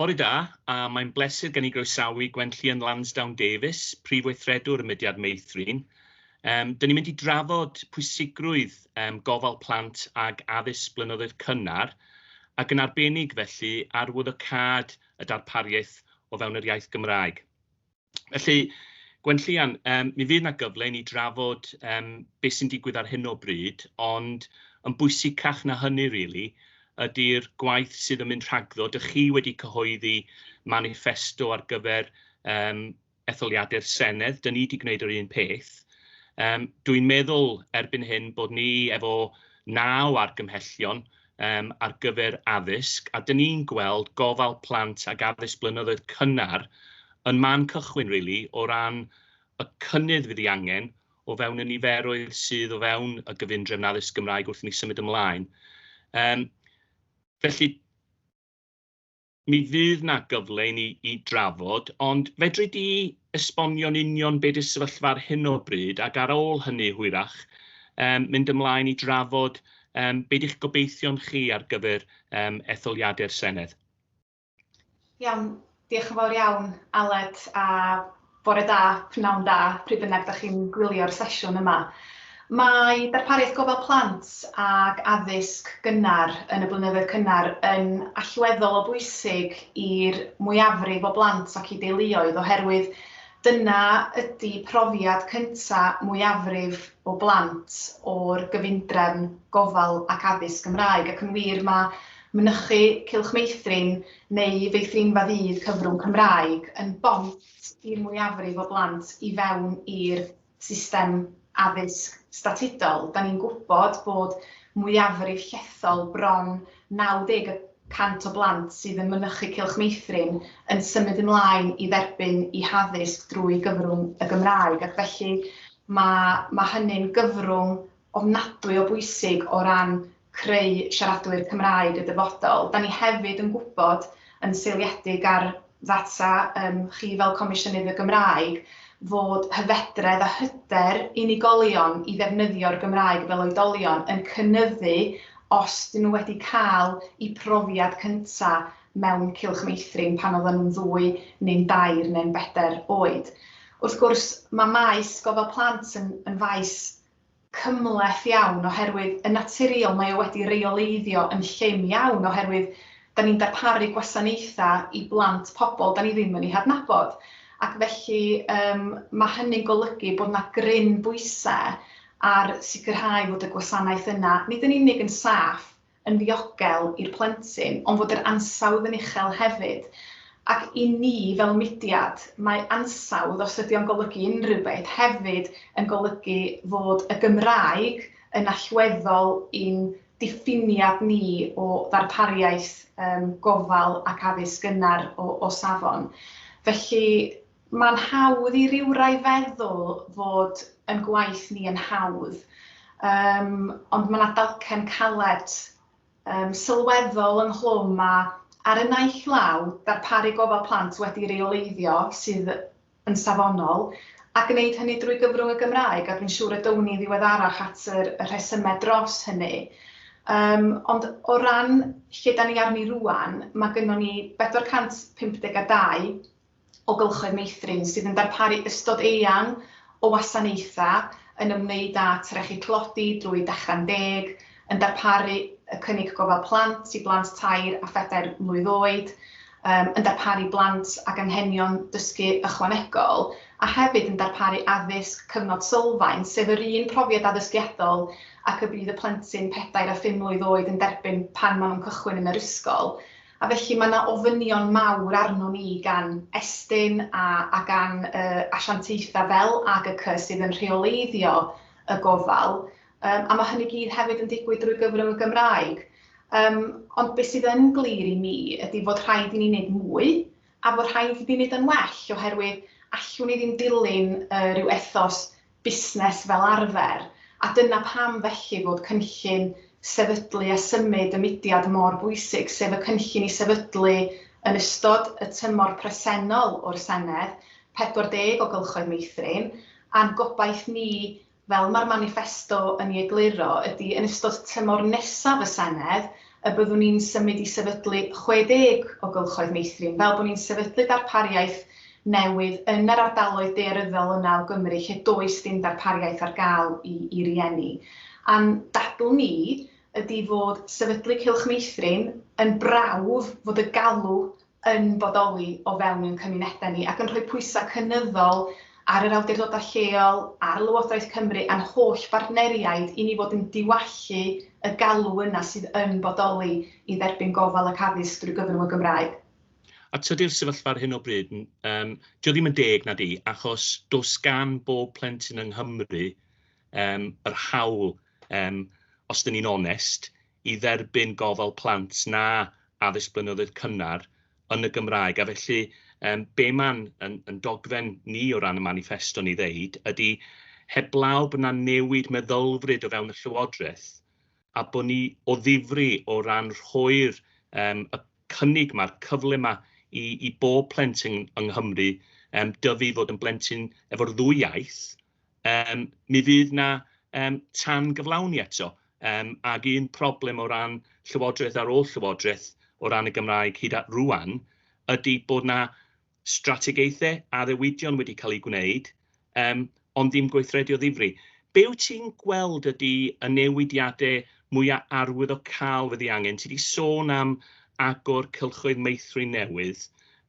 Bore da, a mae'n bleser gen i groesawu Gwenllian Lansdowne Davies, Prif Weithredwr y Mudiad Meithrin. Um, Dyn ni'n mynd i drafod pwysigrwydd um, gofal plant ag addysg blynyddoedd cynnar, ac yn arbennig felly arwyddocâd y darpariaeth o fewn yr iaith Gymraeg. Felly, Gwenllian, yym mi fydd 'na gyfle i ni drafod yym be' sy'n digwydd ar hyn o bryd, ond yn bwysicach na hynny rili ydi'r gwaith sydd yn mynd rhagddo. Dych chi wedi cyhoeddi maniffesto ar gyfer yym etholiadau'r Senedd, 'dyn ni 'di gwneud yr un peth. Yym dwi'n meddwl erbyn hyn bod ni efo naw argymhellion, um, ar gyfer addysg, a dyn ni'n gweld gofal plant ag addysg blynyddoedd cynnar yn man cychwyn, really, o ran y cynnydd fydd ei angen o fewn y niferoedd sydd o fewn y gyfundrefn addysg Gymraeg wrth i ni symud ymlaen. Um, felly, Mi fydd 'na gyfle i ni i drafod, ond fedri di esbonio'n union be 'di'r sefyllfa ar hyn o bryd, ac ar ôl hynny hwyrach yym mynd ymlaen i drafod yym be 'di'ch gobeithion chi ar gyfer yym etholiadau'r Senedd? Iawn, diolch yn fawr iawn Aled, a Bore da, pnawn da, pryd bynnag da chi'n gwylio'r sesiwn yma. Mae darpariaeth gofal plant ac addysg gynnar yn y blynyddoedd cynnar yn allweddol o bwysig i'r mwyafrif o blant ac i deuluoedd oherwydd dyna ydy profiad cynta' mwyafrif o blant o'r gyfundrefn gofal ac addysg Gymraeg ac yn wir mae mynychu Cylch Meithrin neu feithrinfa ddydd cyfrwng Cymraeg yn bont i'r mwyafrif o blant i fewn i'r system addysg statudol. Da ni'n gwybod bod mwyafrif llethol, bron 90 y cant o blant sydd yn mynychu Cylch Meithrin yn symud ymlaen i dderbyn eu haddysg drwy gyfrwng y Gymraeg ac felly mae hynny'n gyfrwng ofnadwy o bwysig o ran creu siaradwyr Cymraeg y dyfodol. Da ni hefyd yn gwybod, yn seiliedig ar ddata yym chi fel Comisiynydd y Gymraeg, fod hyfedredd a hyder unigolion i ddefnyddio'r Gymraeg fel oedolion yn cynyddu os 'dyn nhw wedi cael eu profiad cynta' mewn cylch meithrin pan oedden nhw'n ddwy neu'n dair neu'n bedair oed. Wrth gwrs, mae maes gofal plant yn yn faes cymhleth iawn oherwydd yn naturiol mae o wedi reoleiddio yn llym iawn oherwydd 'da ni'n darparu gwasanaethau i blant pobl 'da ni ddim yn eu hadnabod ac felly yym ma' hynny'n golygu bod 'na gryn bwysau ar sicrhau fod y gwasanaeth yna nid yn unig yn saff yn ddiogel i'r plentyn ond fod yr ansawdd yn uchel hefyd ac i ni fel mudiad mae ansawdd, os ydy o'n golygu unrhyw beth, hefyd yn golygu fod y Gymraeg yn allweddol i'n diffiniad ni o ddarpariaeth gofal ac addysg gynnar o safon. Felly, Mae'n hawdd i rywrai feddwl fod yn gwaith ni yn hawdd, yym, ond mae 'na dalcen caled, yym, sylweddol ynghlwm a, ar y naill law, darparu gofal plant wedi reoleiddio sydd yn safonol, a gwneud hynny drwy gyfrwng y Gymraeg, a dwi'n siŵr y down ni ddiweddarach at yr y rhesymau dros hynny. Yym, ond o ran lle 'dan ni arni rŵan, mae gynnon ni 452 o gylchoedd meithrin sydd yn darparu ystod eang o wasanaethau yn ymwneud â trechu tlodi drwy Dechra'n Deg, yn darparu y cynnig gofal plant i blant tair a phedair mlwydd oed, yn darparu blant ag anghenion dysgu ychwanegol, a hefyd yn darparu addysg cyfnod sylfaen, sef yr un profiad addysgiadol ac y bydd y plentyn pedair a phum mlwydd oed yn derbyn pan maen nhw'n cychwyn yn yr ysgol. A felly mae yna ofynion mawr arnon ni gan Estyn a a gan y asiantaethau fel AGCC sydd yn rheoleiddio y gofal yym a mae hynny gyd hefyd yn digwydd drwy gyfrwng y Gymraeg yym ond be sydd yn glir i mi ydy fod rhaid i ni wneud mwy a fod rhaid i ni wneud yn well oherwydd allwn ni ddim dilyn yy rhyw ethos busnes fel arfer, a dyna pam felly fod cynllun sefydlu a symud y mudiad mor bwysig, sef y cynllun i sefydlu yn ystod y tymor presennol o'r Senedd, 40 o gylchoedd meithrin, a'n gobaith ni, fel mae'r maniffesto yn ei egluro, ydy yn ystod tymor nesaf y Senedd, y byddwn ni'n symud i sefydlu 60 o gylchoedd meithrin, fel bod ni'n sefydlu darpariaeth newydd yn yr ardaloedd daearyddol yna o Gymru lle does dim darpariaeth ar gael i i rieni. A'n dadl ni ydi fod sefydlu cylch meithrin yn brawf fod y galw yn bodoli o fewn ein cymunedau ni ac yn rhoi pwysau cynyddol ar yr awdurdodau lleol, ar Lywodraeth Cymru a'n holl bartneriaid i ni fod yn diwallu y galw yna sydd yn bodoli i dderbyn gofal ac addysg drwy gyfrwng y Gymraeg. A tydi'r sefyllfa ar hyn o bryd, yym, 'di o ddim yn deg, na 'di? Achos does gan bob plentyn yng Nghymru yym yr hawl, yym, os 'dyn ni'n onest, i dderbyn gofal plant na addysg blynyddoedd cynnar yn y Gymraeg, a felly yym be mae'n yn yn dogfen ni o ran y maniffesto ni ddeud ydy heblaw bod 'na newid meddylfryd o fewn y Llywodraeth a bod ni o ddifri o ran rhoi'r yym y cynnig ma'r cyfle ma i i bob plentyn yng Nghymru yym dyfu i fod yn blentyn efo'r ddwy iaith, Yym, mi fydd 'na yym tan-gyflawni eto, yym ac un problem o ran llywodraeth ar ôl llywodraeth o ran y Gymraeg hyd at rŵan ydy bod 'na strategaethau, addewidion wedi cael eu gwneud, yym ond ddim gweithredu o ddifri. Be wyt ti'n gweld ydy y newidiadau mwya' arwyddocaol fydd ei angen? Ti 'di sôn am agor cylchoedd meithrin newydd,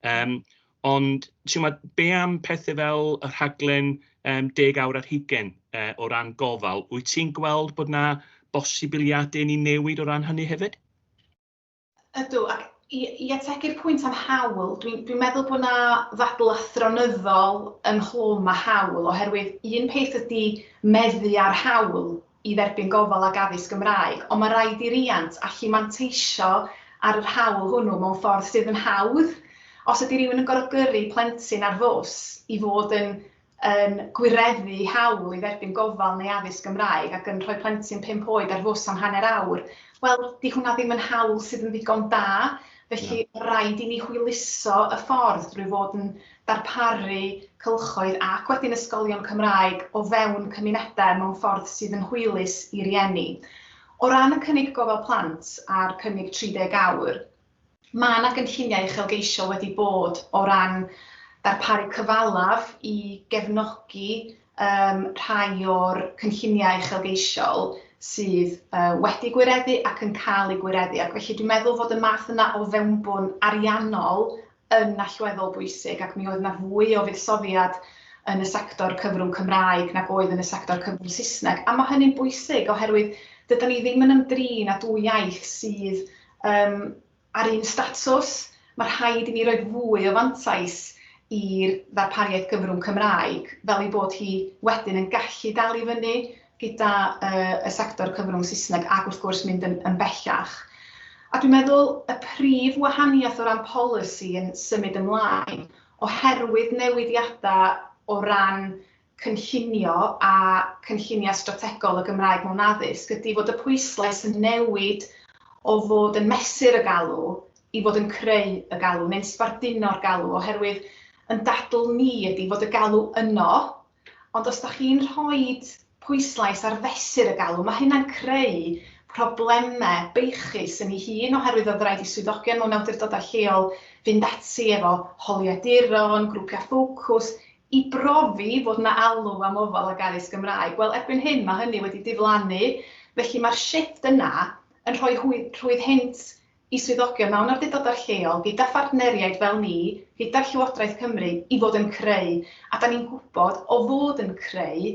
yym Ond timod, be am pethau fel y rhaglen um, deg awr ar hugen uh, o ran gofal? Wyt ti'n gweld bod yna bosibiliadau ni newid o ran hynny hefyd? Ydw, ac i, i ategu'r pwynt am hawl, dwi'n dwi meddwl bod yna ddadl athronyddol ynghlwm a hawl, oherwydd un peth ydy meddu ar hawl, i dderbyn gofal ac addysg Gymraeg, ond mae rhaid i riant allu manteisio ar yr hawl hwnnw mewn ffordd sydd yn hawdd. Os ydy rhywun yn gorfod gyrru plentyn ar fws i fod yn yn gwireddu hawl i dderbyn gofal neu addysg Gymraeg ac yn rhoi plentyn pump oed ar fws am hanner awr, wel, 'di hwnna ddim yn hawl sydd yn ddigon da, felly rhaid i ni hwyluso y ffordd drwy fod yn darparu cylchoedd ac wedyn ysgolion Cymraeg o fewn cymunedau mewn ffordd sydd yn hwylus i rieni. O ran y cynnig gofal plant a'r cynnig 30 awr, mae yna gynlluniau uchelgeisiol wedi bod o ran darparu cyfalaf i gefnogi um, rhai o'r cynlluniau uchelgeisiol sydd uh, wedi gwireddu ac yn cael eu gwireddu. Ac felly dwi'n meddwl fod y math yna o fewnbwn ariannol yn allweddol bwysig ac mi oedd 'na fwy o fuddsoddiad yn y sector cyfrwng Cymraeg nag oedd yn y sector cyfrwng Saesneg, a mae hynny'n bwysig oherwydd dyda ni ddim yn ymdrin â dwy iaith sydd um, ar un statws. Mae rhaid i ni roi fwy o fantais i'r ddarpariaeth gyfrwng Cymraeg, fel ei bod hi wedyn yn gallu dal i fyny gyda y sector cyfrwng Saesneg ac wrth gwrs mynd yn bellach. A dwi'n meddwl y prif wahaniaeth o ran polisi yn symud ymlaen oherwydd newidiadau o ran cynllunio a cynlluniau strategol y Gymraeg mewn addysg ydy fod y pwyslais yn newid o fod yn mesur y galw i fod yn creu y galw neu'n sbarduno'r galw oherwydd yn dadl ni ydy fod y galw yno Ond os dach chi'n rhoi pwyslais ar fesur y galw, mae hynna'n creu problemau beichus yn ei hun oherwydd oedd rhaid i swyddogion mewn awdurdodau lleol fynd ati efo holiaduron, grwpiau ffocws, i brofi fod 'na alw am ofal ac addysg Gymraeg. Wel, erbyn hyn mae hynny wedi diflannu, felly mae'r shifft yna yn rhoi rhwydd hynt i swyddogion mewn awdurdodau lleol, gyda phartneriaid fel ni, gyda Llywodraeth Cymru, i fod yn creu, a 'da ni'n gwybod o fod yn creu,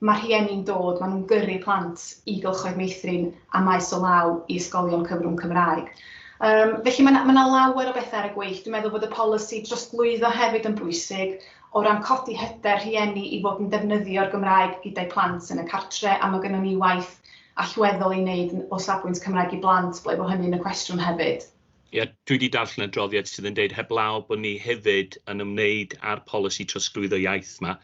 mae rhieni'n dod, maen nhw'n gyrru plant i gylchoedd meithrin a maes o law i ysgolion cyfrwng Cymraeg. Yym, felly mae 'na mae 'na lawer o bethau ar y gweill. Dwi'n meddwl bod y polisi drosglwyddo hefyd yn bwysig, o ran codi hyder rhieni i fod yn defnyddio'r Gymraeg gyda'u plant yn y cartre', a mae gynnon ni waith allweddol i wneud o safbwynt Cymraeg i Blant, ble bo hynny'n y cwestiwn hefyd. Ia, dwi wedi darllen y adroddiad sydd yn dweud heblaw bod ni hefyd yn ymwneud â'r polisi trosglwyddo iaith yma,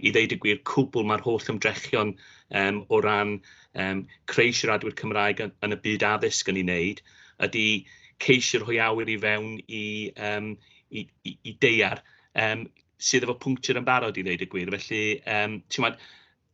i ddeud y gwir, cwbl mae'r holl ymdrechion um, o ran um, creu siaradwyr Cymraeg yn, yn y byd addysg yn ei wneud, ydy ceisio rhoi awyr i fewn i, um, i, i, i deiar um, sydd efo pwnctur yn barod i ddeud y gwir. Felly, um, ti'n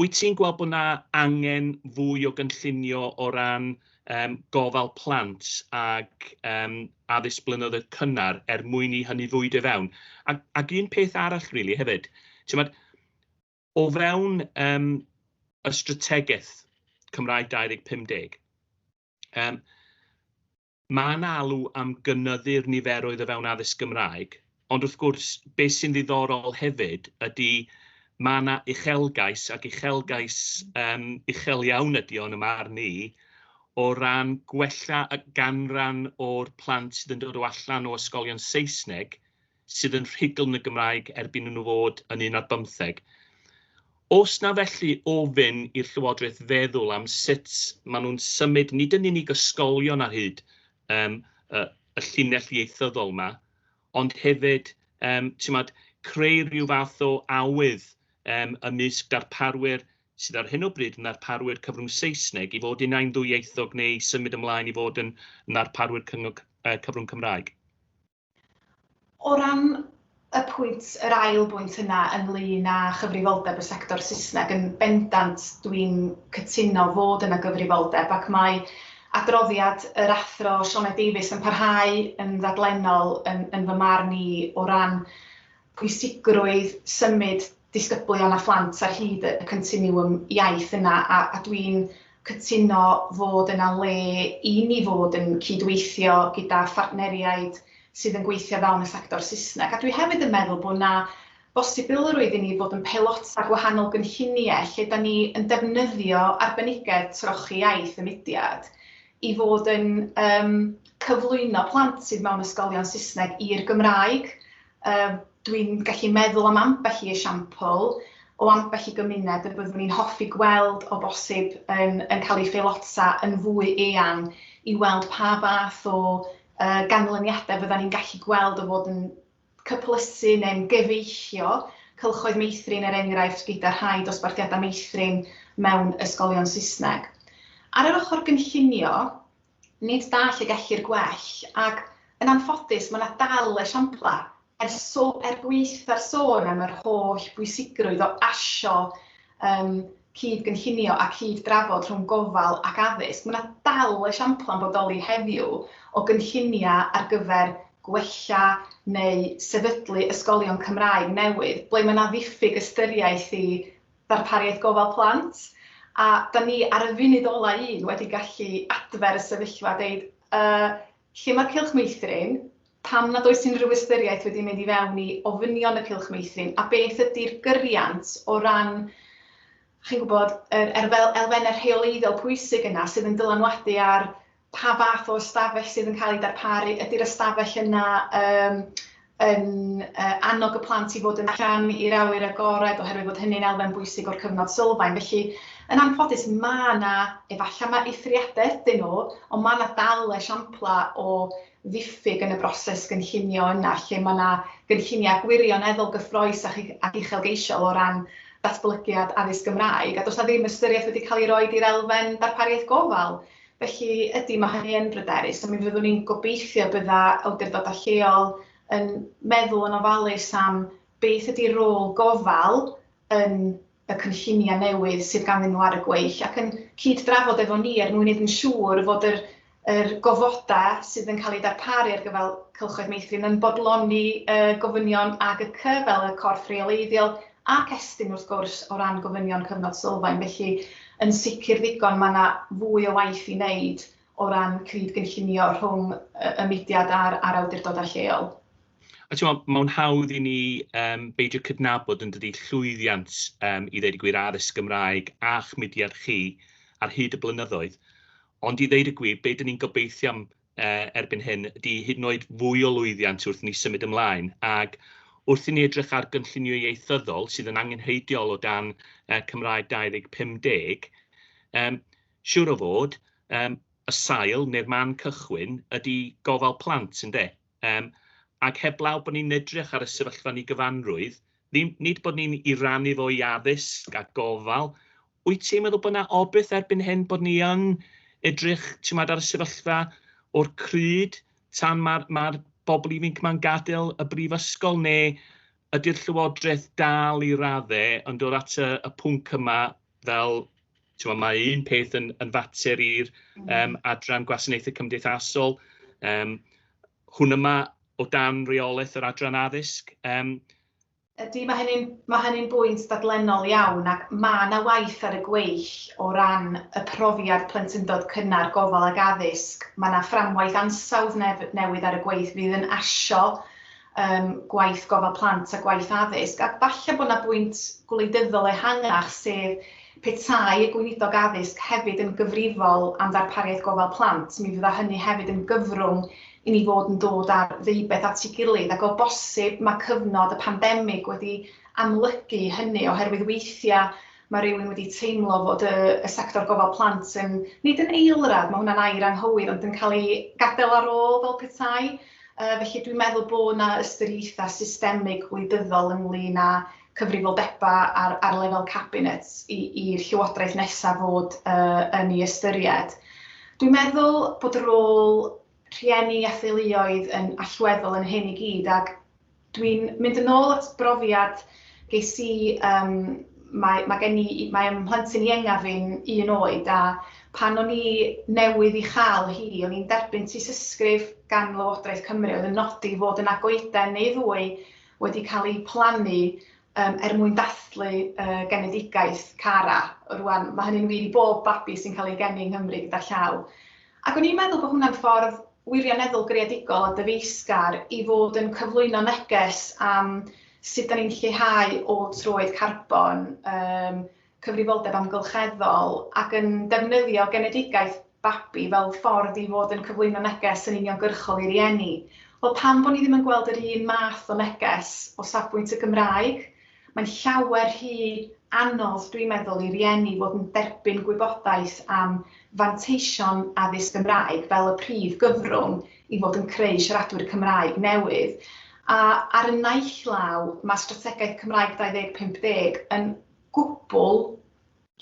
Wyt ti'n gweld bod 'na angen fwy o gynllunio o ran yym gofal plant ac yym addysg blynyddoedd cynnar er mwyn i hynny fwydo i fewn? Ac ac un peth arall rili hefyd, t'mod, o fewn yym y strategaeth Cymraeg 2050, yym, Mae yna alw am gynyddu'r niferoedd o fewn addysg Gymraeg, ond wrth gwrs, beth sy'n ddiddorol hefyd ydy mae yna uchelgais, ac uchelgais um, uchel iawn ydy o'n ymwneud ni, o ran gwella y ganran o'r plant sydd yn dod o allan o ysgolion Saesneg sydd yn rhugl yn y Gymraeg erbyn i nhw fod yn un ar bymtheg. Os na felly ofyn i'r Llywodraeth feddwl am sut maen nhw'n symud nid yn unig ysgolion ar hyd um, y, y llinell ieithyddol yma, ond hefyd um, tymod, creu rhyw fath o awydd um, ymysg darparwyr sydd ar hyn o bryd yn ddarparwyr cyfrwng Saesneg i fod yn ein ddwyieithog neu symud ymlaen i fod yn ddarparwyr cyfrwng Cymraeg. O ran y pwynt, yr ail bwynt yna ynglŷn â chyfrifoldeb y sector Saesneg, yn bendant dwi'n cytuno fod yna gyfrifoldeb ac mae adroddiad yr Athro Sioned Davies yn parhau yn ddaglennol yn fy marn i o ran pwysigrwydd symud disgyblion a phlant ar hyd y continwwm iaith yna a a dwi'n cytuno fod yna le i ni fod yn cyd-weithio gyda phartneriaid sydd yn gweithio fewn y sector Saesneg a dwi hefyd yn meddwl bod yna bosibilrwydd i ni fod yn peilota gwahanol gynlluniau lle da ni yn defnyddio arbenigedd trochi iaith y mudiad i fod yn yym cyflwyno plant sydd mewn ysgolion Saesneg i'r Gymraeg Uh, Dwi'n gallu meddwl am ambell i esiampl o ambell i gymuned y byddwn ni'n hoffi gweld o bosib yn, yn cael ei pheilota yn fwy eang i weld pa fath o uh, ganlyniadau fydda ni'n gallu gweld o fod yn cyplysu neu'n gyfeillio cylchoedd meithrin er enghraifft gyda rhai dosbarthiadau meithrin mewn ysgolion Saesneg. Ar yr ochr gynllunio, Nid da lle gellir gwell, ac, yn anffodus, mae yna dal esiamplau. Er so- er gwaetha'r sôn am yr holl bwysigrwydd o asio yym cyd-gynllunio a cyd-drafod rhwng gofal ac addysg, mae yna dal esiamplau yn bodoli heddiw o gynlluniau ar gyfer gwella neu sefydlu ysgolion Cymraeg newydd ble mae yna ddiffyg ystyriaeth i Darpariaeth Gofal Plant, a 'da ni ar y funud ola' un wedi gallu adfer y sefyllfa a deud yy lle ma'r cylch meithrin, pam nad oes unrhyw ystyriaeth wedi mynd i fewn i ofynion y cylch meithrin a beth ydi'r gyriant o ran chi'n gwybod yr elfenne rheoleiddiol pwysig yna sydd yn dylanwadu ar pa fath o ystafell sydd yn cael ei darparu, ydy'r ystafell yna yym yn yy annog y plant i fod yn allan i'r awyr agored oherwydd bod hynny'n elfen bwysig o'r cyfnod sylfaen. Felly, yn anffodus, mae yna, efallai mae eithriadau ydyn nhw, ond mae yna dal esiamplau o ddiffyg yn y broses gynllunio yna lle mae yna gynlluniau gwirioneddol gyffrous ac ac uchelgeisiol o ran datblygiad addysg Gymraeg, a does 'na ddim ystyriaeth wedi cael ei roi i'r elfen darpariaeth gofal. Felly, ydy, mae hynny yn bryderus, a mi fyddwn ni'n gobeithio bydda awdurdodau lleol yn meddwl yn ofalus am beth ydy rôl gofal yn y cynlluniau newydd sydd ganddyn nhw ar y gweill ac yn cyd-drafod efo ni er mwyn wneud yn siŵr fod yr, yr gofodau sydd yn cael eu darparu ar gyfer cylchoedd meithrin yn bodloni y gofynion AGC fel y corff reoleiddiol Ac estyn wrth gwrs o ran gofynion cyfnod sylfaen, felly yn sicr ddigon mae yna fwy o waith i wneud o ran cyd-gynllunio rhwng y mudiad a'r a'r awdurdodau lleol. A timod, mae'n hawdd i ni um, beidio cydnabod yn dydy llwyddiant um, i ddeud y gwir addysg Gymraeg a'ch mudiad chi ar hyd y blynyddoedd. Ond i ddeud y gwir, be dyn ni'n gobeithio am erbyn hyn ydy hyd yn oed fwy o lwyddiant wrth i ni symud ymlaen, ac wrth i ni edrych ar gynllunio ieithyddol sydd yn angenrheidiol o dan Cymraeg 2050, siwr o fod, y sail neu'r man cychwyn ydy gofal plant, ynde? Ac heblaw bod ni'n edrych ar y sefyllfa yn ei gyfanrwydd, nid bod ni'n ei rannu fo i addysg a gofal, Wyt ti'n meddwl bod 'na obaith erbyn hyn bod ni yn edrych, ti'mod, ar y sefyllfa o'r crud tan ma'r ma'r bobl ifinc 'ma'n gadael y brifysgol, neu ydy'r Llywodraeth dal i radde yn dod at y y pwnc yma fel, ti'mod, ma' un peth yn yn fater i'r yym adran gwasanaethau cymdeithasol, yym hwn yma o dan reolaeth yr adran addysg, yym Ydy, mae hynny'n ma hynny bwynt dadlennol iawn ac mae yna waith ar y gweill o ran y profiad plentyndod cynnar, gofal ac addysg. Mae yna fframwaith ansawdd nef newydd ar y gweill fydd yn asio um, gwaith gofal plant a gwaith addysg. A falle bod yna bwynt gwleidyddol ehangach sef Petai y Gweinidog Addysg hefyd yn gyfrifol am ddarpariaeth gofal plant, mi fydda hynny hefyd yn gyfrwng i ni fod yn dod â'r ddeubeth at ei gilydd, ac o bosib mae cyfnod y pandemig wedi amlygu hynny, oherwydd weithiau mae rhywun wedi teimlo fod y y sector gofal plant yn, nid yn eilradd, mae hwnna'n air anghywir, ond yn cael ei gadael ar ôl fel petai. Yy felly dwi'n meddwl bod 'na ystyriaethau systemig gwleidyddol ynglŷn â cyfrifoldebau ar ar lefel cabinet i i'r llywodraeth nesaf fod yy yn ei ystyried. Dwi'n meddwl bod y rôl rhieni a theuluoedd yn allweddol yn hyn i gyd ac dwi'n mynd yn ôl at brofiad ges i um, mae, mae gen i, mae ym mhlentyn ienga fi'n un oed a pan o'n i newydd i chael hi, o'n i'n derbyn tysysgrif gan Lywodraeth Cymru oedd yn nodi fod yna goeden neu ddwy wedi cael eu plannu yym er mwyn dathlu y genedigaeth Cara. Rŵan, mae hynny'n wir i bob babi sy'n cael ei geni yng Nghymru gyda llaw. Ac o'n i'n meddwl bod hwnna'n ffordd wirioneddol greadigol a dyfeisgar i fod yn cyflwyno neges am sut 'dan ni'n lleihau ôl troed carbon yym cyfrifoldeb amgylcheddol ac yn defnyddio genedigaeth babi fel ffordd i fod yn cyflwyno neges yn uniongyrchol i rieni. Wel, pam bod ni ddim yn gweld yr un math o neges o safbwynt y Gymraeg? Mae'n llawer rhy anodd, dwi'n meddwl, i rieni fod yn derbyn gwybodaeth am fanteision addysg Gymraeg fel y prif gyfrwng i fod yn creu siaradwyr Cymraeg newydd. A ar y naill law, mae Strategaeth Cymraeg 2050 yn gwbl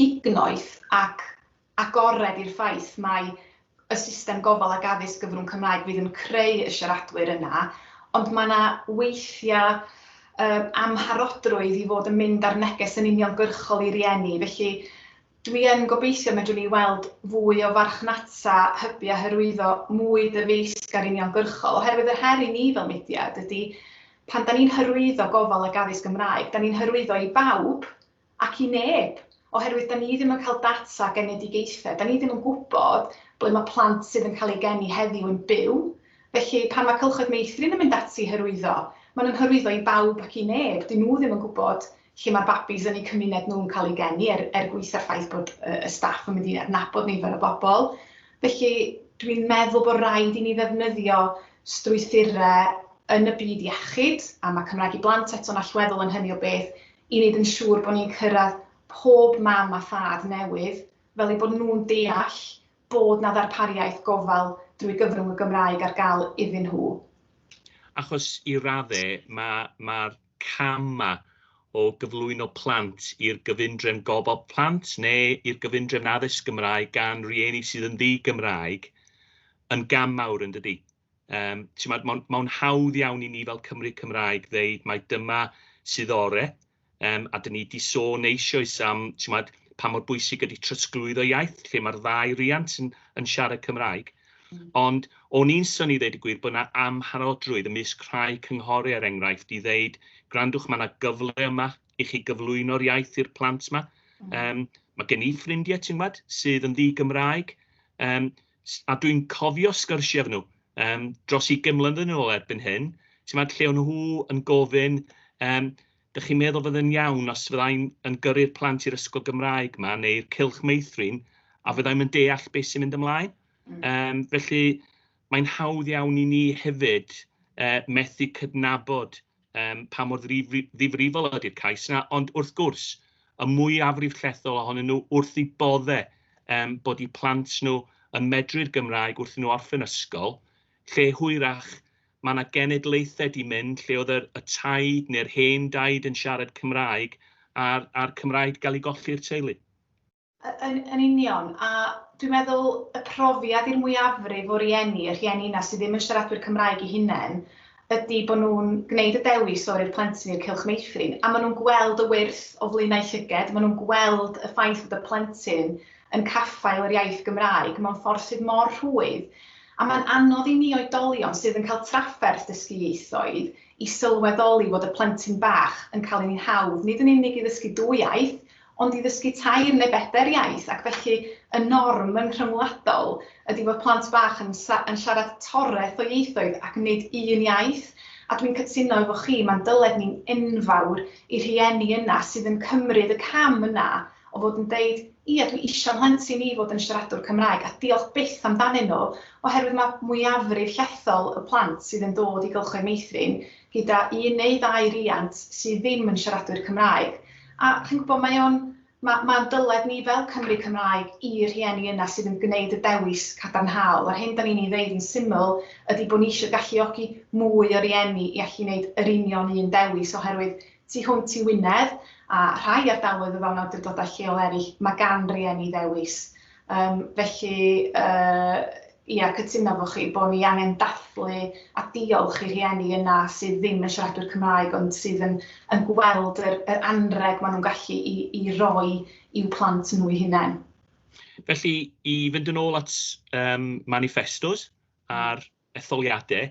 gignoeth ac agored i'r ffaith mai y system gofal ac addysg gyfrwng Cymraeg fydd yn creu y siaradwyr yna, ond mae yna weithiau amharodrwydd i fod yn mynd â'r neges yn uniongyrchol i rieni. Felly, dwi yn gobeithio y medrwn ni weld fwy o farchnata hybu a hyrwyddo mwy dyfeisgar uniongyrchol, oherwydd yr her i ni fel mudiad ydy Pan 'da ni'n hyrwyddo gofal ac addysg Gymraeg, 'da ni'n hyrwyddo i bawb ac i neb, oherwydd 'da ni ddim yn cael data genedigaethau, 'da ni ddim yn gwybod ble mae plant sydd yn cael eu geni heddiw yn byw, felly pan mae Cylchoedd Meithrin yn mynd ati i hyrwyddo, maen nhw'n hyrwyddo i bawb ac i neb, 'dyn nhw ddim yn gwybod lle mae'r babis yn eu cymuned nhw'n cael eu geni, er er gwis a'r ffaith bod y staff yn mynd i adnabod nifer o bobl. Felly, dwi'n meddwl bod rhaid i ni ddefnyddio strwythurau yn y byd iechyd, a mae Cymraeg i Blant eto'n allweddol yn hynny o beth, i wneud yn siŵr bod ni'n cyrraedd pob mam a thad newydd, fel eu bod nhw'n deall bod 'na ddarpariaeth gofal drwy gyfrwng y Gymraeg ar gael iddyn nhw. Achos i raddau, mae, mae'r camau o gyflwyno plant i'r gyfundrefn gofal plant neu i'r gyfundrefn addysg Gymraeg gan rieni sydd yn ddi-Gymraeg yn gam mawr yn dydi? Yym, t'mod, mae'n ma hawdd iawn i ni fel Cymry Cymraeg ddeud mai dyma sydd ore, um, a dyn ni wedi sôn eisoes am t'mod, pa mor bwysig ydy trosglwyddo iaith, lle mae'r ddau riant yn, yn siarad Cymraeg. Ond o'n i'n synnu i ddeud y gwir bod 'na amharodrwydd ymysg rhai cynghori er enghraifft i ddeud gwrandwch ma' 'na gyfle yma i chi gyflwyno'r iaith i'r plant 'ma. Yym ma' gen i ffrindie ti'n gwbod sydd yn ddi-Gymraeg yym s- a dwi'n cofio sgyrsie efo nhw yym dros ugain mlynedd yn ôl erbyn hyn, ti'n gwbod lle o' nhw yn gofyn yym Dych chi'n meddwl fydde'n iawn os fyddai'n yn gyrru'r plant i'r ysgol Gymraeg ma, neu'r cylch meithrin, a fyddai'n yn deall beth sy'n mynd ymlaen? Mm. Um, felly, mae'n hawdd iawn i ni hefyd uh, methu cydnabod um, pa mor ddifrifol ydy'r cais yna, ond wrth gwrs, y mwy afrif llethol ohonyn nhw wrth i bodde um, bod i plant nhw yn medru'r Gymraeg wrth nhw orffen ysgol, lle hwyrach Mae 'na genedlaethau 'di mynd lle oedd yr y taid neu'r hen daid yn siarad Cymraeg a'r a'r Cymraeg 'di gael ei golli i'r teulu. Yn yn union, a dwi'n meddwl y profiad i'r mwyafrif o rieni, y rhieni 'na sydd ddim yn siaradwyr Cymraeg eu hunain, ydi bod nhw'n gwneud y dewis o roi'r plentyn i'r Cylch Meithrin, a maen nhw'n gweld y wyrth o flaenau llyged, maen nhw'n gweld y ffaith bod y plentyn yn caffael yr iaith Gymraeg mewn ffordd sydd mor rhwydd, A mae'n anodd i ni oedolion sydd yn cael trafferth dysgu ieithoedd i sylweddoli fod y plentyn bach yn cael ei hawdd nid yn unig i ddysgu dwy iaith, ond i ddysgu tair neu bedair iaith ac felly y norm yn rhyngwladol ydi fod plant bach yn yn siarad toreth o ieithoedd ac nid un iaith a dwi'n cytuno efo chi mae'n dyled ni'n enfawr i rhieni yna sydd yn cymryd y cam yna o fod yn deud Ie, dwi isio 'mhlentyn i fod yn siaradwr Cymraeg a diolch byth amdanyn nhw oherwydd mae mwyafrif llethol y plant sydd yn dod i gylchoedd meithrin gyda un neu ddau riant sydd ddim yn siaradwyr Cymraeg a chi'n gwybod mae o'n ma' ma'n dyled ni fel Cymry Cymraeg i rhieni yna sydd yn gwneud y dewis cadarnhaol a'r hyn dan ni'n ei ddeud yn syml ydi bod ni isio galluogi mwy o rieni i allu neud yr union un dewis oherwydd Tu hwnt i Wynedd, a rhai ardaloedd o fewn awdurdodau lleol eraill, mae gan rieni ddewis. Yym, felly, yy, ia, cytuno efo chi bod ni angen dathlu a diolch i rieni yna sydd ddim yn siaradwyr Cymraeg ond sydd yn yn gweld yr yr anrheg maen nhw'n gallu i i roi i'w plant nhw eu hunain. Felly, i fynd yn ôl at um, manifestos a'r etholiadau.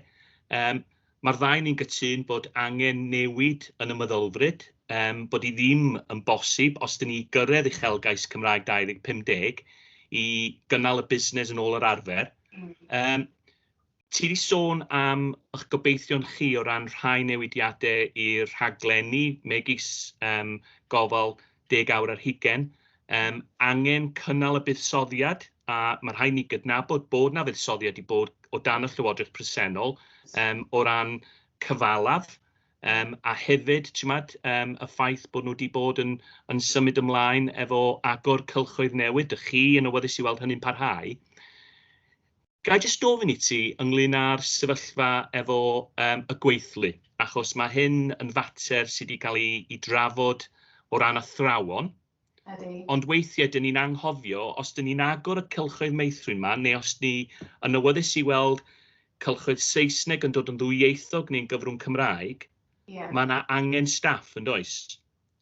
Yym, mae'r ddau ni'n gytun bod angen newid yn y meddylfryd, yym, bod hi ddim yn bosib, os dyn ni i gyrraedd uchelgais Cymraeg 2050, i gynnal y busnes yn ôl yr arfer. Yym, ti wedi sôn am eich gobeithion chi o ran rhai newidiadau i'r rhaglenni, megis yym, gofal deg awr ar hugain, yym, angen cynnal y buddsoddiad, a ma' rhaid ni gydnabod bod 'na fuddsoddiad 'di bod o dan y Llywodraeth presennol, yym, o ran cyfalaf, yym, a hefyd, chi'mod, yym, y ffaith bod nhw 'di bod yn yn symud ymlaen efo agor cylchoedd newydd, 'dych chi yn awyddus i weld hynny'n parhau. Ga i jyst gofyn i ti ynglyn â'r sefyllfa efo yym y gweithlu, achos ma' hyn yn fater sy' 'di ca'l 'i 'i drafod o ran athrawon. Ydi. Ond weithie 'dyn ni'n anghofio os 'dyn ni'n agor y cylchoedd meithrin 'ma neu os ni yn awyddus i weld cylchoedd Saesneg yn dod yn ddwyieithog neu'n gyfrwng Cymraeg... Ie. ...ma' 'na angen staff yndoes?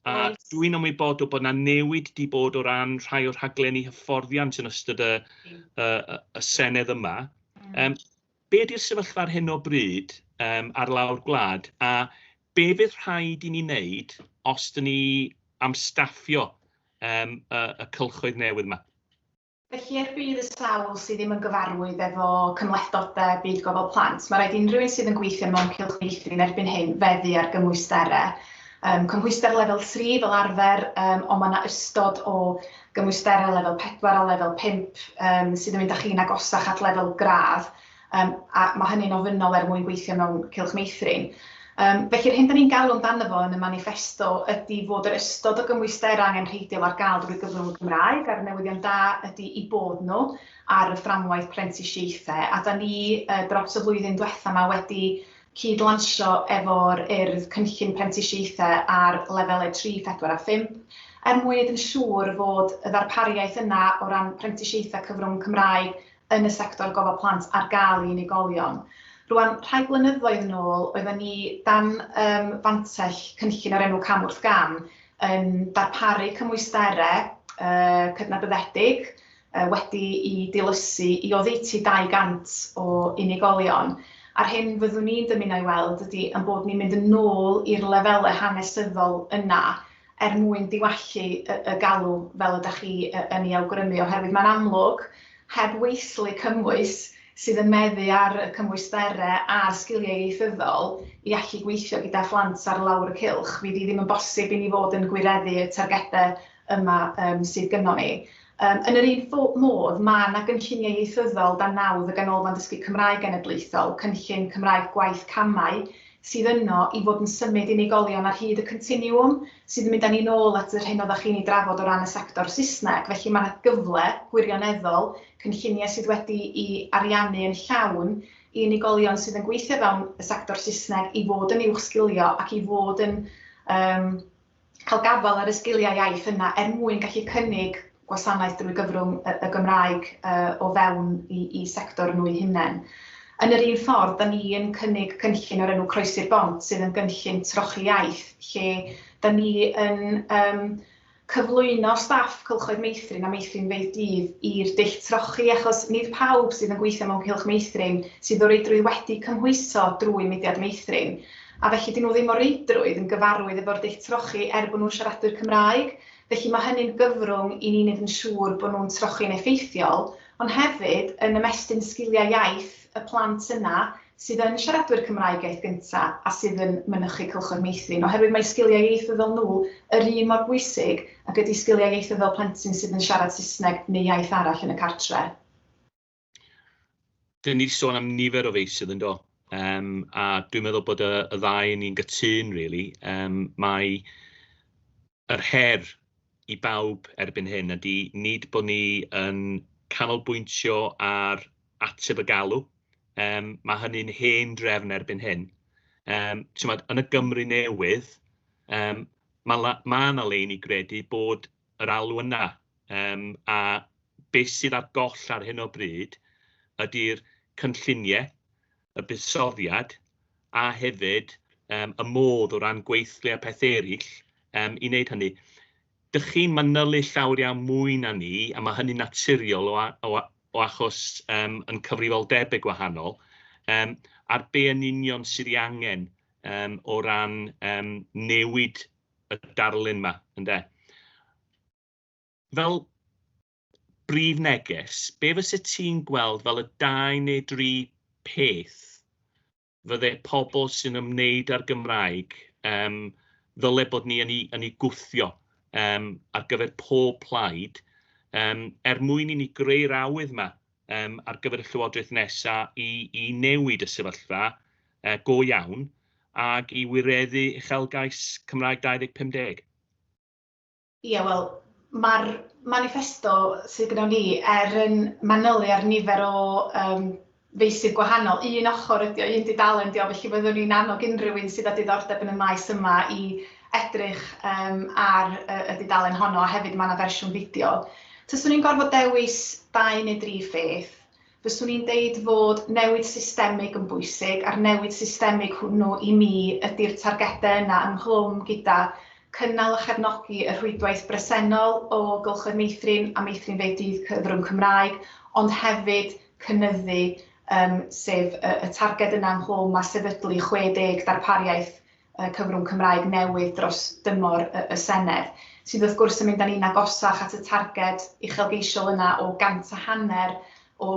A dwi'n ymwybodol bod yna newid wedi bod o ran rhai o'r rhaglenni hyfforddiant yn ystod y, y, y Senedd yma. Mm. Um, be ydy'r sefyllfa ar hyn o bryd um, ar lawr gwlad a be fydd rhaid i ni wneud os dyn ni am staffio um, y, y cylchoedd newydd yma? Felly, er budd y sawl sydd ddim yn gyfarwydd efo cymhlethdodau byd gofal plant, mae rhaid unrhyw un sydd yn gweithio mewn cylch meithrin erbyn hyn feddu ar gymwysterau. Um, cymhwyster lefel 3 fel arfer, um, ond mae yna ystod o gymwysterau lefel 4 a lefel 5 um, sydd yn mynd â chi'n agosach at lefel gradd, Yym, a mae hynny'n ofynnol er mwyn gweithio mewn cylch meithrin. Yym, felly, yr hyn da ni'n galw amdano fo yn y maniffesto ydi fod yr ystod o gymwysterau angenrheidiol ar gael drwy gyfrwng y Gymraeg, a'r newyddion da ydi eu bod nhw ar y fframwaith prentisiaethau, a da ni yy dros y flwyddyn diwetha' ma' wedi cyd-lansio efo'r Urdd cynllun prentisiaethau ar lefelau tri, phedwar a phump, er mwyn neud yn siŵr fod y ddarpariaeth yna o ran prentisiaethau cyfrwng Cymraeg yn y sector gofal plant ar gael i unigolion. Rwan, rhai blynyddoedd yn ôl, oedden ni dan um, fantell cynllun o'r enw Cam wrth Gam yn darparu cymwysterau uh, cydnabyddedig uh, wedi i dilysu i oddeutu 200 o unigolion. A'r hyn fyddwn ni'n dymuno i weld ydy yn bod ni'n mynd yn ôl i'r lefelau hanesyddol yna er mwyn diwallu y galw fel ydych chi yn ei awgrymu, oherwydd mae'n amlwg, heb weithlu cymwys sydd yn meddu ar y cymwysterau a'r sgiliau ieithyddol i allu gweithio gyda phlant ar lawr y cylch, fydd hi ddim yn bosib i ni fod yn gwireddu y targedau yma sydd gynnon ni. Yn yr un modd, mae yna gynlluniau ieithyddol dan nawdd y Ganolfan Dysgu Cymraeg Genedlaethol, Cynllun Cymraeg Gwaith Camau, sydd yno i fod yn symud unigolion ar hyd y continiwwm, sydd yn mynd â ni'n ôl at yr hyn oeddach chi'n ei drafod o ran y sector Saesneg. Felly mae yna gyfle gwirioneddol, cynlluniau sydd wedi'u ariannu yn llawn, i unigolion sydd yn gweithio fewn y sector Saesneg i fod yn uwchsgilio ac i fod yn yym cael gafael ar y sgiliau iaith yna er mwyn gallu cynnig gwasanaeth drwy gyfrwng y Gymraeg o fewn i sector nhw'u hunain. Yn yr un ffordd, da ni yn cynnig cynllun o'r enw Croesi'r Bont sydd yn gynllun trochi iaith lle da ni yn cyflwyno staff cylchoedd meithrin a meithrinfeydd dydd i'r dull trochi achos nid pawb sydd yn gweithio mewn cylch meithrin sydd o reidrwydd wedi cymhwyso drwy mudiad meithrin. A felly 'dyn nhw ddim o reidrwydd yn gyfarwydd efo'r dull trochi er bod nhw'n siaradwyr Cymraeg. Felly mae hynny'n gyfrwng i ni wneud yn siŵr bod nhw'n trochi'n effeithiol, ond hefyd yn ymestyn sgiliau iaith y plant yna sydd yn siaradwyr Cymraeg iaith gynta' a sydd yn mynychu Cylchoedd Meithrin, oherwydd mae sgiliau ieithyddol nhw yr un mor bwysig ag ydi sgiliau ieithyddol plentyn sydd yn siarad Saesneg neu iaith arall yn y cartre'. Dyn ni wedi sôn am nifer o feysydd yn do, um, a dwi'n meddwl bod y, y ddau ni'n gytun, really. Um, mae yr her i bawb erbyn hyn ydy nid bod ni yn canolbwyntio ar ateb y galw. Um, mae hynny'n hen drefn erbyn hyn. Um, Tymod, yn y Gymru newydd, um, mae yna ma lein i gredu bod yr alw yna, yym a be sydd ar goll ar hyn o bryd ydy'r cynlluniau, y buddsoddiad a hefyd yym y modd o ran gweithle a peth eraill yym i wneud hynny. Dych chi'n manylu llawer iawn mwy na ni, a mae hynny'n naturiol o, o, o achos um, yn cyfrifoldebau gwahanol, um, ar be yn union sydd ei angen um, o ran um, newid y darlun yma, ynde? Fel brif neges, be fysa ti'n gweld fel y dau neu dri peth fydde pobl sy'n ymwneud â'r Gymraeg um, ddyle bod ni yn ei, yn ei gwthio um, ar gyfer pob plaid, um, er mwyn i ni greu'r awydd yma um, ar gyfer y llywodraeth nesaf i, i newid y sefyllfa uh, go iawn ac i wireddu uchelgais Cymraeg 2050? Ie, yeah, wel, mae'r manifesto sydd gyda ni er yn manylu ar nifer o um, feisydd gwahanol. Un ochr ydy o, un dudalen ydy o, felly fyddwn ni'n annog unrhyw un sydd â diddordeb yn y maes yma i edrych yym ar y dudalen honno a hefyd ma' 'na fersiwn fideo. Taswn i'n gorfod dewis dau neu dri pheth, fyswn i'n deud fod newid systemig yn bwysig a'r newid systemig hwnnw i mi ydi'r targedau yna ynghlwm gyda cynnal a chefnogi y rhwydwaith bresennol o gylchoedd meithrin a meithrinfeydd dydd cyfrwng Cymraeg ond hefyd cynyddu yym sef y targed yna ynghlwm â sefydlu 60 darpariaeth cyfrwng Cymraeg newydd dros dymor y Senedd, sydd wrth gwrs yn mynd â ni'n agosach at y targed uchelgeisiol yna o gant a hanner o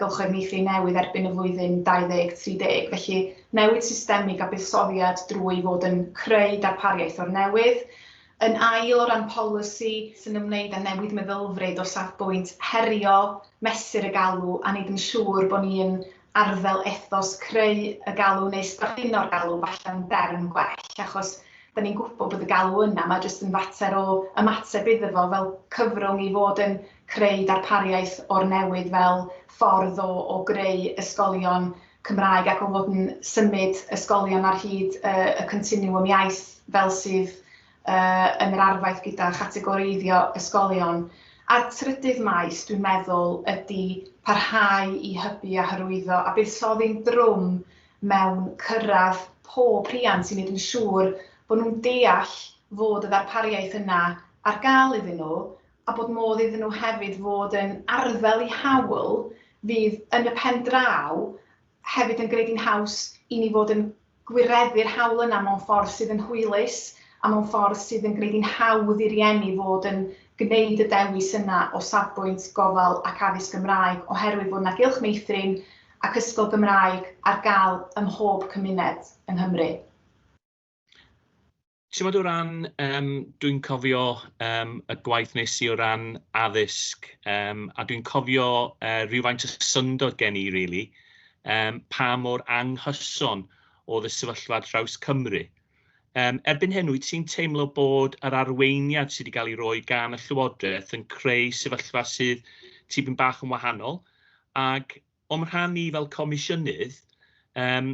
gylchoedd meithrin newydd erbyn y flwyddyn 2030. Felly, newid systemig a buddsoddiad drwy fod yn creu darpariaeth o'r newydd. Yn ail, o ran polisi, sy'n ymwneud â newid meddylfryd o safbwynt herio, mesur y galw, a wneud yn siŵr bod ni'n arddel ethos creu y galw neu strapino'r galw falle yn derm gwell achos 'da ni'n gwybod bod y galw yna, mae jyst yn fater o ymateb iddo fo fel cyfrwng i fod yn creu darpariaeth o'r newydd fel ffordd o o greu ysgolion Cymraeg ac o fod yn symud ysgolion ar hyd y y continiwwm iaith fel sydd yy yn yr arfaeth gyda chategoreiddio ysgolion. A'r trydydd maes, dwi'n meddwl, ydy parhau i hybu a hyrwyddo a buddsoddi'n drwm mewn cyrraedd pob rhiant i wneud yn siŵr bod nhw'n deall fod y ddarpariaeth yna ar gael iddyn nhw a bod modd iddyn nhw hefyd fod yn arddel i hawl fydd yn y pen draw hefyd yn gwneud hi'n haws i ni fod yn gwireddu'r hawl yna mewn ffordd sydd yn hwylus a mewn ffordd sydd yn gwneud hi'n hawdd i rieni fod yn gwneud y dewis yna o safbwynt gofal ac addysg Gymraeg oherwydd fod 'na gylch meithrin ac ysgol Gymraeg ar gael ym mhob cymuned yng Nghymru. Timod o ran, yym, dwi'n cofio yym y gwaith wnes i o ran addysg yym a dwi'n cofio yy rywfaint o syndod gen i rili yym pa mor anghyson oedd y sefyllfa ar draws Cymru. Yym erbyn hyn wyt ti'n teimlo bod yr arweiniad sydd wedi cael ei roi gan y Llywodraeth yn creu sefyllfa sydd tipyn bach yn wahanol ac O'm rhan i fel Comisiynydd, yym,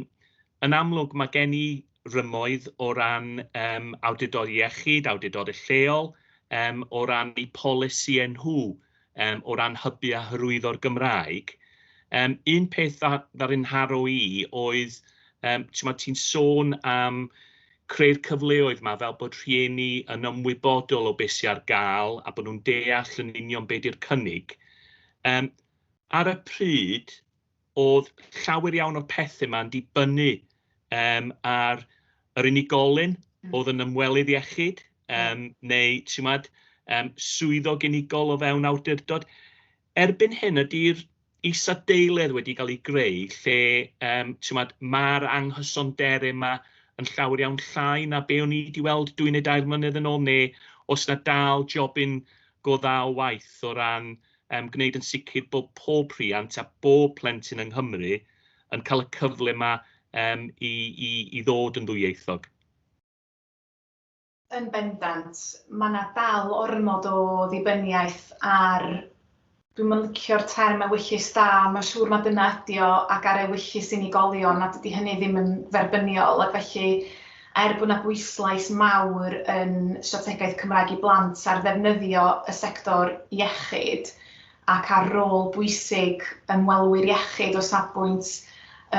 yn amlwg mae gen i rymoedd o ran yym awdurdod iechyd, awdurdodau lleol, yym, o ran eu polisïau nhw, yym, o ran hybu a hyrwyddo'r Gymraeg. Yym, un peth dda- ddaru ngharo i oedd, yym, timod, ti'n sôn am creu'r cyfleoedd 'ma fel bod rhieni yn ymwybodol o be sy ar gael a bod nhw'n deall yn union be di'r cynnig. Yym, Ar y pryd, oedd llawer iawn o'r pethe 'ma yn dibynnu yym ar yr unigolyn oedd yn ymwelydd iechyd yym neu ti'mod yym swyddog unigol o fewn awdurdod. Erbyn hyn ydi'r isadeiledd wedi cael ei greu lle yym ti'mod ma'r anghysondere 'ma yn llawer iawn llai na be' o'n i 'di weld dwy neu dair mlynedd yn ôl ne' o's 'na dal jobyn go dda o waith o ran um, gwneud yn sicr bod pob rhiant a bob plentyn yng Nghymru yn cael y cyfle yma um, i, i, i ddod yn ddwyieithog. Yn bendant, mae yna dal ormod o ddibyniaeth ar dwi'n yn licio'r term ewyllys da, mae'n siŵr mae dyna ydi o, ac ar ewyllys unigolion, a dydy hynny ddim yn dderbyniol, ac felly Er bod 'na bwyslais mawr yn Strategaeth Cymraeg i Blant ar ddefnyddio y sector iechyd ac ar rôl bwysig ymwelwyr iechyd o safbwynt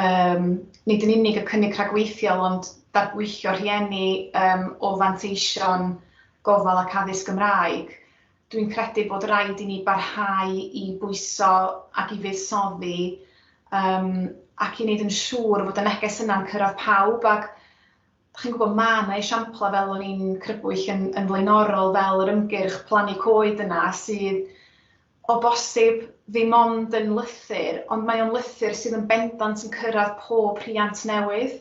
yym nid yn unig y cynnig rhagweithiol ond darbwyllo rhieni yym o fanteision gofal ac addysg Gymraeg, Dwi'n credu bod rhaid i ni barhau i bwyso ac i fuddsoddi um, ac i wneud yn siŵr fod y neges yna'n cyrraedd pawb ac chi'n gwybod mae yna esiamplau fel o'n i'n crybwyll yn, yn flaenorol fel yr ymgyrch plannu coed yna sydd o bosib ddim ond yn lythyr ond mae o'n lythyr sydd yn bendant yn cyrraedd pob rhiant newydd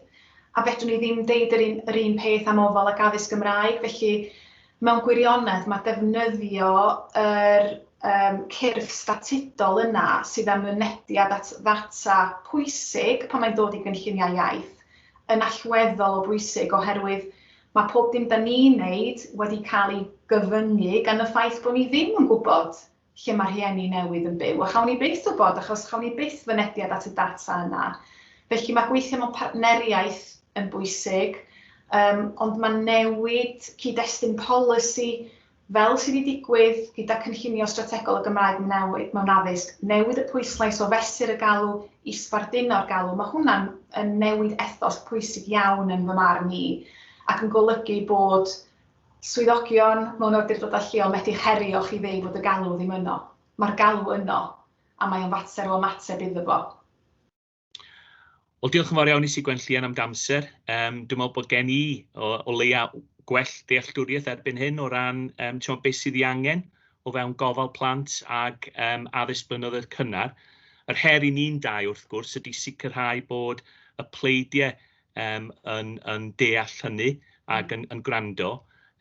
a fedrwn ni ddim deud yr un, yr un peth am ofal ac addysg Gymraeg felly Mewn gwirionedd, mae defnyddio yr um, cyrff statudol yna sydd â mynediad at ddata pwysig pan mae'n dod i gynlluniau iaith yn allweddol o bwysig oherwydd mae pob dim da ni'n wneud wedi cael ei gyfyngu gan y ffaith bod ni ddim yn gwybod lle mae rhieni newydd yn byw, a chawn ni byth wybod achos chawn ni byth fynediad at y data yna. Felly mae gweithio mewn partneriaeth yn bwysig, um, ond mae newid cyd-destun polisi fel sydd wedi digwydd gyda cynllunio strategol y Gymraeg mewn addysg, newid y pwyslais o fesur y galw i sbarduno'r galw, mae hwnna'n newid ethos pwysig iawn yn fy marn i, ac yn golygu bod Swyddogion mewn awdurdodau lleol methu herio chi ddeu fod y galw ddim yno. Mae'r galw yno, a mae o'n fater o ymateb iddo fo. Wel, diolch yn fawr iawn i Sigwen Llian am d'amser. Yym, dwi'n meddwl bod gen i o, o leia gwell dealltwriaeth erbyn hyn o ran um, timo, beth sydd ei angen o fewn gofal plant ag um, addysg blynyddoedd cynnar. Yr her i ni'n dau, wrth gwrs, ydy sicrhau bod y pleidiau um, yn, yn deall hynny ac yn, yn gwrando.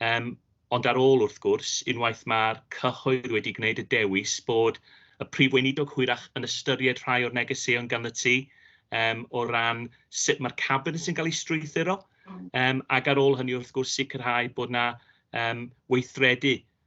Um, ond ar ôl wrth gwrs, unwaith mae'r cyhoedd wedi gwneud y dewis bod y prif weinidog hwyrach yn ystyried rhai o'r negeseuon gan y tu um, o ran sut mae'r cabinet yn cael ei strwythuro, um, ac ar ôl hynny wrth gwrs sicrhau bod yna um, weithredu